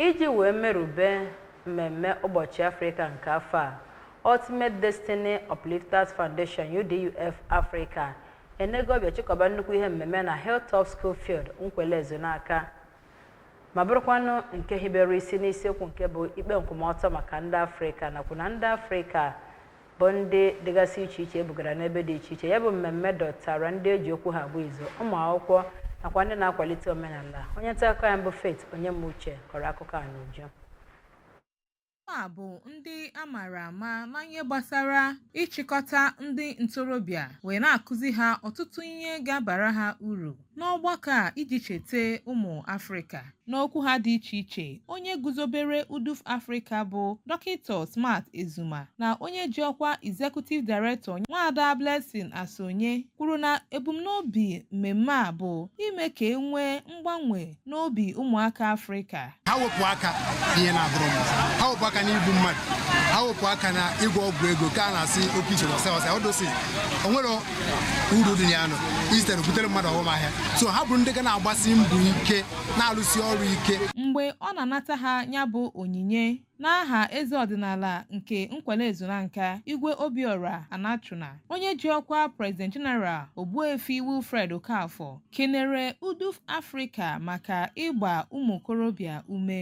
Iji wee merube mmemme ụbọchị Afrịka nke afọ a, Ultimate Destiny Uplifters Foundation UDUF Africa enego ọbịa chịkọba nnukwu ihe mmemme na Hilltop School Field Nkwelle Ezunaka ma bụrụkwanụ nke hibere isi n'isiokwu nke bụ ikpe nkwụmọtọ maka ndị Afrịka nakwa na ndị Afrịka bụ ndị dịgasị iche iche ebugara n'ebe dị iche iche ya bụ mmemme dọtara ndị eji okwu ha agba izu ụmụ akwụkwọ nakwa ndị na-akwalite omenala onye nta akụkọ anyị bụ Faith Onyemuche kọrọ akụkọ a n'uju a bụ ndị a mara ama na ihe gbasara ịchịkọta ndị ntorobịa wee na-akụzi ha ọtụtụ ihe ga-abara ha uru n'ọgbakọ a iji cheta ụmụ Afrịka. N'okwu ha dị iche iche, onye guzobere UDUF Afrịka bụ Dọkịta Smart Ezuma na onye ji ọkwa Executive Director Nwaada Blessing Asonye kwuru na ebumnobi mmemme a bụ ime ka e nwee mgbanwe n'obi ụmụaka Afrịka. ha wepụ aka n'ihe na-adịrọ mma ha wepụ aka n'igbu mmadụ ha wepụ aka na ịgwọ ọgwụ ego ka a na-asị oke ite ọsị ọsị ọ dosi o nwerọ uru dị na ya nụ instead o butere mmadụ ọghọm ahịa so ha bụrụ ndị ga na-agbasi mbọ ike na-alụsi ọrụ ike Mgbe ọ na-anata ha ya bụ onyinye, N'aha eze ọdịnala nke Nkwelle Ezunaka, Igwe Obiora Anachuna, onye ji ọkwa President General Ogbuefi Wilfred Okafor kenere UDUF Afrịka maka ịgba ụmụ okorobịa ume.